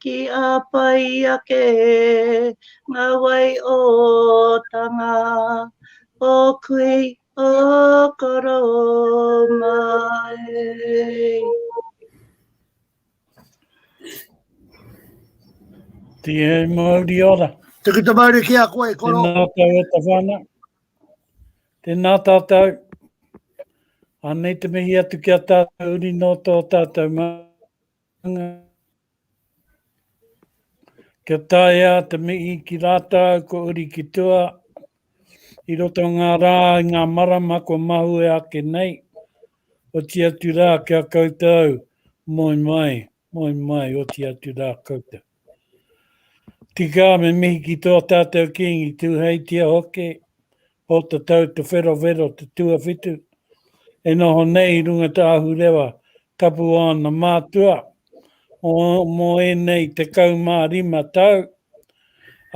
Ki a pai ake nga wai o tanga, o kui, o koro mai. Te e mauri ora. Te ki te mauri ki a koe, koro. Te nātau e ta whana. Te nātātau. Anei te mihi atu ki a tātou uri no tō tātou mā. Kia taea te mihi ki rātou ko uri ki tua, i roto ngā rā i ngā marama kua mahue ake nei, oti atu rā kia koutou, moe mai, moe mai, oti atu rā koutou. Tika, me mihi ki tō tātou Kīngi Tūheitia hoki, Pōtatau Te Wherowhero te tuawhitu, e noho nei i runga tā Ahurewa tapu o ana mātua, mō, mō ēnei 15 tau,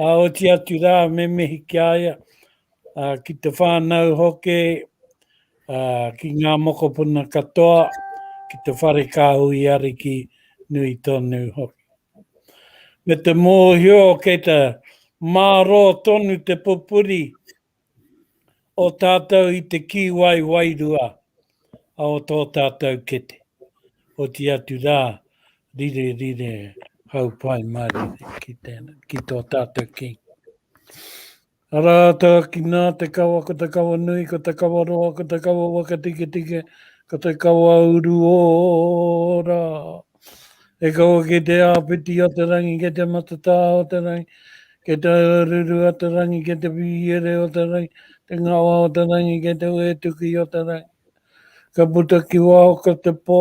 ā, oti atu rā me mihi ki a ia, ā, ki te whānau hoki, Ki ngā mokopuna katoa, ki te whare kāhui ariki nui tonu hoki. Me te mōhio kei te mārō tonu te pupuri o tātou i te kīwai wairua o tō tātou kete, oti atu rā, rire rire hau pai mārire ki tō tātou King. Ara ata ki na te kawa ko te kawa nui ko te kawa roa ko te kawa wakatiketike ko te kawa uru ora. E kawa ki te apiti o te rangi ke te matata o te rangi ke te ruru o te rangi ke te piere o te rangi te ngawa o te rangi ke te wetuki o te rangi. Ka puta ki wao ko te po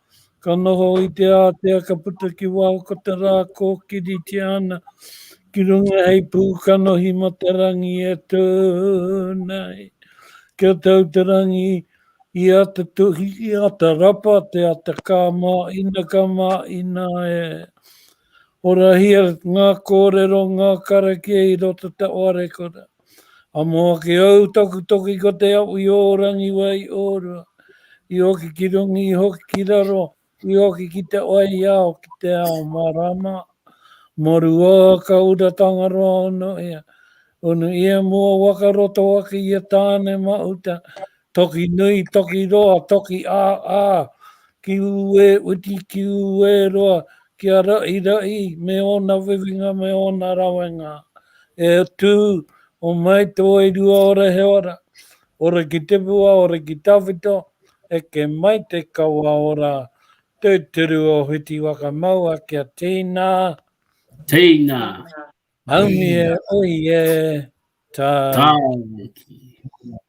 Ka noho i te ātea ka puta ki waho ko te rā kōkiritia ana ki runga hei pū kanohi mo te rangi e tū nei. Kia tau te rangi i ata tuhi, i ata rapa, te ata ka mā ina ka mā ina e. Horahia ngā kōrero, ngā karakia i roto te oarekura. Amo ake au taku toki ko te au i ōrangi wai i ōrua, i hoki ki rungi, i hoki ki raro, i hoki ki te waiao, ki te ao marama. Moru o ka ura Tangaroa ono ia, ono ia mua waka roto ake ia Tāne Mahuta, Toki nui, toki roa, toki a a, ki u e uti, ki u e roa, ki a rai rai, me ona wiwinga, me ona rawenga. E tu, o mai to e rua ora he ora, ora ki te bua, ora ki tawhito, e ke mai te kawa ora, tu turu o hiti waka maua ki a tina. Tina. Aumie, oie, tau. Tau.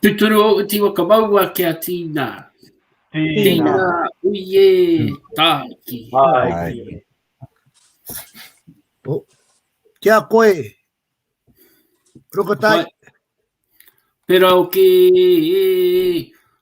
Tuturu o uti wa ka maua ki a Tina. Tina, uie, tāki. Tāki. Oh. Kia koe. Rokotai. Pera o ki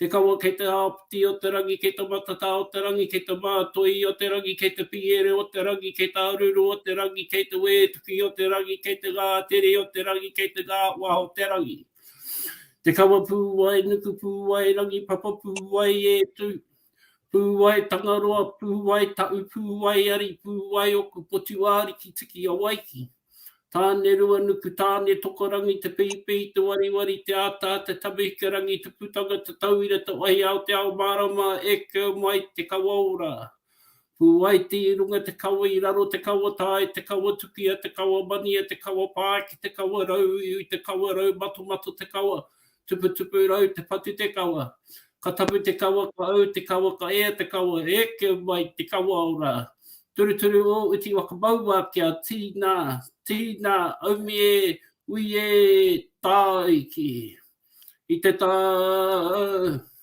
Te kawa kei te āpiti o te rangi kei te matatā o te rangi kei te mātoi o te rangi kei te piere o te rangi kei te aruru o te rangi kei te wētuki o te rangi kei te ngā tere o te rangi kei te ngā wā o te rangi Te kawa pū wai nuku pū wai rangi papa pū wai e tū pū wai Tangaroa pū wai taʻu pū wai ari pū wai oku potu āriki tiki a wai ki. Tāne-rua-nuku-tāne-tokorangi te pehipehi te wariwari te āta te tawehikarangi te putanga te tauira te wahiao te ao mārama e kau mai te kawa ora Pūwaiti i runga te kawa i raro te kawa tae te kawa tukia te kawa mania te kawa pāki te kawa rau iwi te kawa rau matomato te kawa Tuputupu rau te patu te kawa Ka tapu te kawa ka au te kawa ka ea te kawa Eke mai te kawa ora Turuturu o uti waka maua kia tīnā Tīnā aumi e ui e tāiki I te tā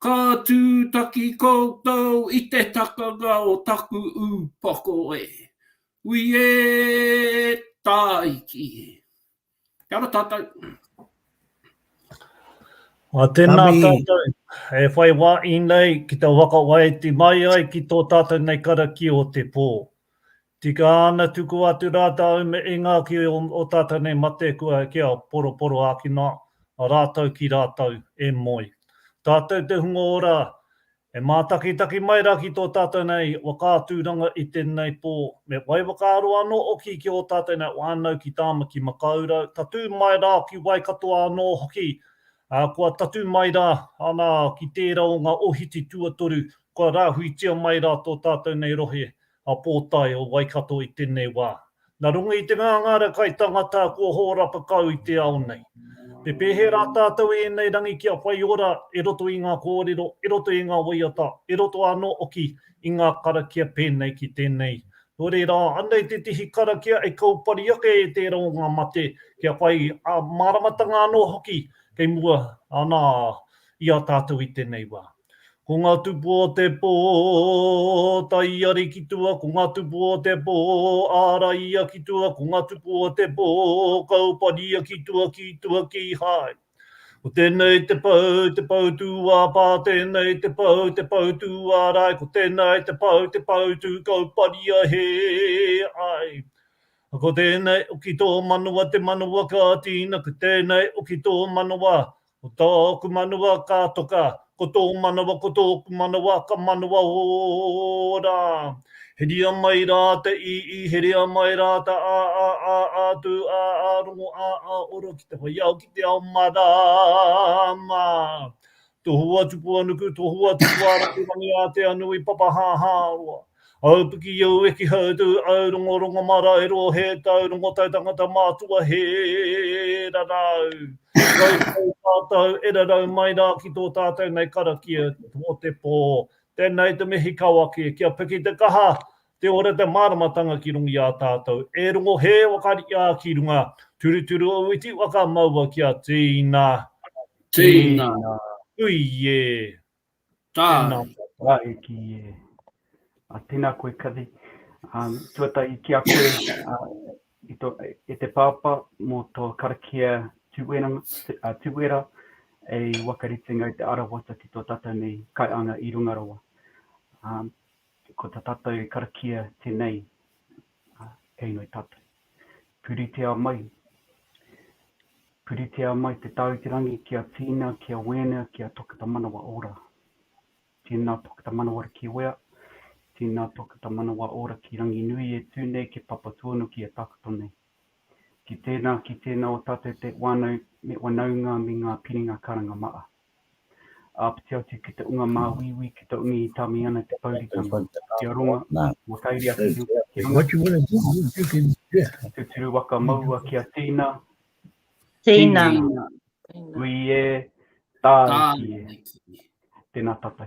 Ka tūtaki koutou i te takanga o taku ūpoko e. Ui e Tāiki. Kia ora tātou. Ā, tēnā tātou e whai wā i nei ki te waka waiti mai ai ki tō tātou nei karakia o te pō. Tika ana tuku atu rātou me inga ki o tātou nei mate kua kia poroporo ākina rātou ki rātou e moe. Tātou te hunga ora e mātakitaki mai rā ki tō tātou nei whakaaturanga i tēnei pō, me whai whakaaro anō hoki ki ō tātou nei whānau ki Tāmaki Makaurau, tatū mai rā ki Waikatoa anō hoki, ā, kua tatū mai rā ana ki tērā o ngā ohiti tuatoru kua rāhuitia mai rā tō tātou nei rohe. a Pōtae o Waikato i tēnei wā. Na runga i te ngāngāra kai tangata kua hōrapa kau i te ao nei. Me pēhea rā tātou i ēnei rangi kia whai ora e roto i ngā kōrero, e roto i ngā waiata, e roto anō hoki i ngā karakia pēnei ki tēnei. Nō reira, anei te tihi karakia e kaupari ake e tērā o ngā mate kia whai māramatanga anō hoki kei mua ana i a tātou i tēnei wā. Ko nga tupu o te po, ta ia ri ki tua, ko nga tupu o te po, a ra ia ki tua, ko nga tupu o te po, ka uparia ki tua, ki tua, kihai. Ko tenei te pou, te pou tu a pa, tenei te pou, te pou tu a rai, ko tenei te pou, te pou tu, ka uparia he ai. Ko tenei o ki to manawa te manawa ka tina, ko tenei o ki to manawa, Ko tā ōku manawa ka toka, ko tō manawa, ko tōku manawa ka manawa ora. Heria mai rā te i, i, heria mai rā te a, a, a, a, tū, a, a, rongo, a, a, ora ki te whai ao, ki te ao marāma. Tohua tupu a nuku, tohua tupu a rapu rangi ātea nui, papa hāhā roa. Aupiki i au eki hautu au rongo rongo maraero he tau rongo tau tangata mātua he rarau rautau tātou e rarau mai rā ki tō tātou nei karakia o te pō tēnei te mihi kawake kia piki te kaha te ora te māramatanga ki runga i a tātou e rongo he whakariā ki runga turuturu o iti waka maua kia tīna tīna hui e. Tā. Tēnā tā e ki e. A, tēnā koe Kathy. Um, tuatahi ki a koe, uh, i to, e te pāpā mō tō karakia tūera, uh, tūera e wakaritenga i te arawata ki tō tātou nei kaianga i runga rawa. Um, ko tā tātou karakia tēnei, Ā, kei noi tātou. Puritia mai, puritia mai te Tāu te Rangi ki a Tina, ki a Wēnea, ki a Tokita Manawa Ora. Tēnā Tokita Manawa Ora ki Wea, tēnā Tokita Manawa Ora ki Ranginui e tū nei ki Papatuanuki e takoto nei. Ki tēnā, ki tēnā o tātou te wānau me wanaunga me ngā piringa karanga maa. Āpiti atu ki te unga māuiui ki te umi i tāmi ana te pouritanga ki a Ronga mō tairi ake i uta ki runga. I tuturu waka maua ki a Tina. Tina. Ui e, tāiki e. Tēnā tātou.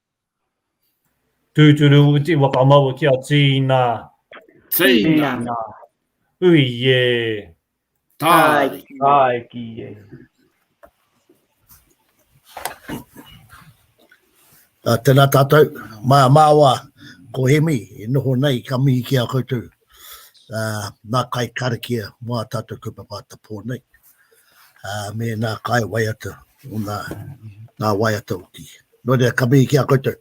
Tūturu uti whakamaua ki a Tīna. Tīna. Tīna. Ui e. Tāiki. Tāiki e. Uh, tēnā tātou, mā māua ko Hemi e noho nei ka mihi ki a koutou uh, nā kai karakia mā tātou kaupapa ata pō nei. me nā kāi waiata, o nā, nā waiata uki. Nō reira, ka mihi ki a koutou.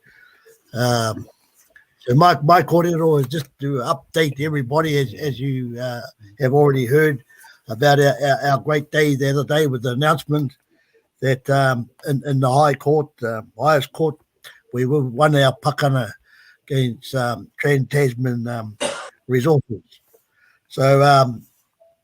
Um, so my, my kōrero is just to update everybody as, as you uh, have already heard about our, our, our great day the other day with the announcement that um, in, in the High Court, uh, highest court, we won our pakana against um, Trans-Tasman um, Resources. So um,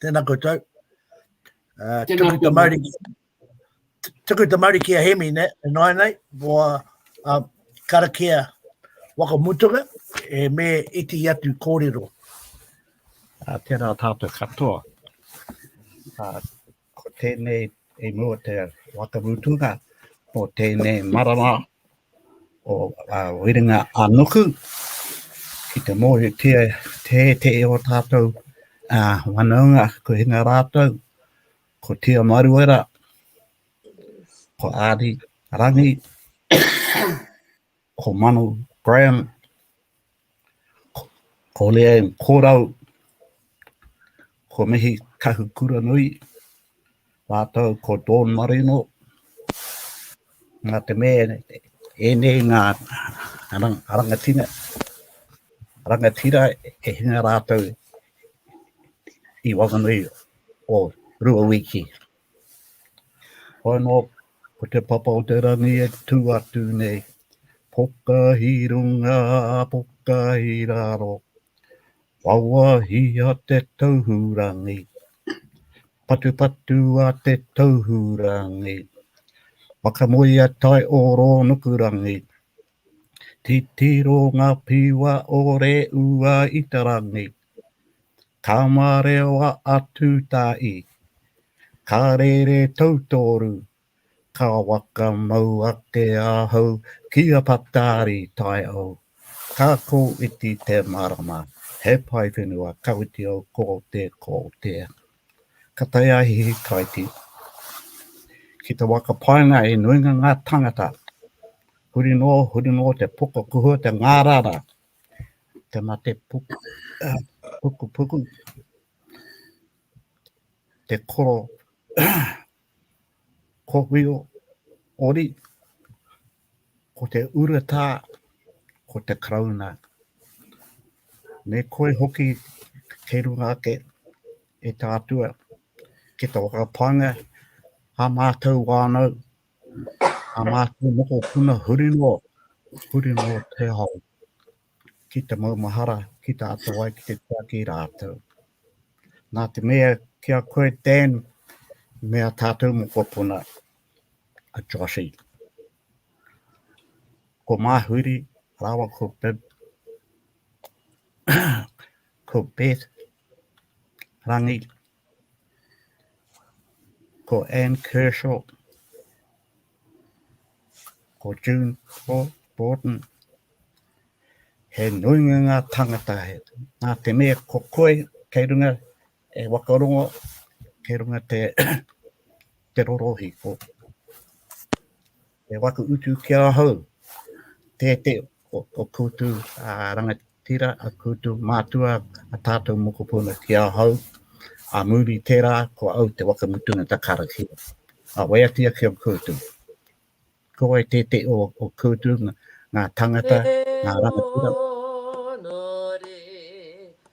Tēnā koutou. Uh, Tēnā tuku te mauri. Tuku te mauri ki a Hemi, ne? E noai nei, ko a uh, karakia waka mutuka, e me iti atu kōrero. Uh, tēnā tātou katoa. Uh, ko tēnei e mua te waka mutuka, ko tēnei marama o Werenga a Nuku ki te mōhiotia te te e o tātou whanaunga ko hinga rātou, ko Tia Maruera, ko Ari Rangi, ko Manu Graham, Koleau Korau, ko Mihi Kahukuranui, mātou ko Dawn Marino, nā te mea ēnei ngā rangatira, rangatira e hinga rātou i waenganui o rua wiki. Whai noa, ko te papa o te rangi e tū atu nei. Poka i runga, poka i raro, wawahia te tauhurangi. Patupatu a te tauhurangi, whakamoea tai o Rōnukurangi. Titiro ngā piwa o Reua i te rangi. Ka marewa a Tūtāi, ka rere tautoru, ka whakamau ake ahau ki a Patari Taiao, ka kōwhiti te marama, he paewhenua ka whiti au ko te ko te. Ka tae a Hihikaiti ki te waka paenga i nuinga ngā tangata, huri noa, huri noa te poka kuhua te ngārara. Te mate puku, puku puku, te koro kohuio ori, ko te uretā, ko te karauna. Me koe hoki kei runga ake e tātua, ki tō whakapānga, a mātou wānau, Nā mātou mokopuna huri noa, huri noa te ao ki te maumahara, ki te ata wai, ki te tiaki rātou. Nā te mea ki a koe, Dan, me a tātou mokopuna, a Joshy. Ko Māhuri, rāwa ko Bib, ko Beth, Rangi, Ko Anne Kershaw, ko June Borden, he nuinga ngā tangata, nā te mea ko koe kei runga e wakarongo, kei runga te, te rorohi ko. He waka utu ki ahau, tētē o koutou rangatira, a koutou mātua, a tātou mokopuna ki ahau, a muri tērā ko au te waka mutunga ta karakia. A waiati ake o koutou, ko wai tētē o koutou ngā tangata, ngā rangatira.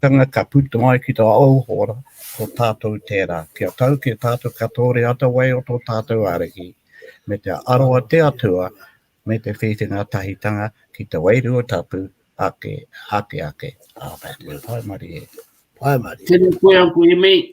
Tanga ka puta ai ki tā ōu hōra, ko tātou tērā. Kia tau ki a tātou ka tōre atawai o tō tātou Ariki, me te aro a te Atua, me te whiwhi ngātahitanga ki te Wairua Tapu ake, ake ake. Amen. Pae marie. Pae marie. Tena koe Uncle Hemi.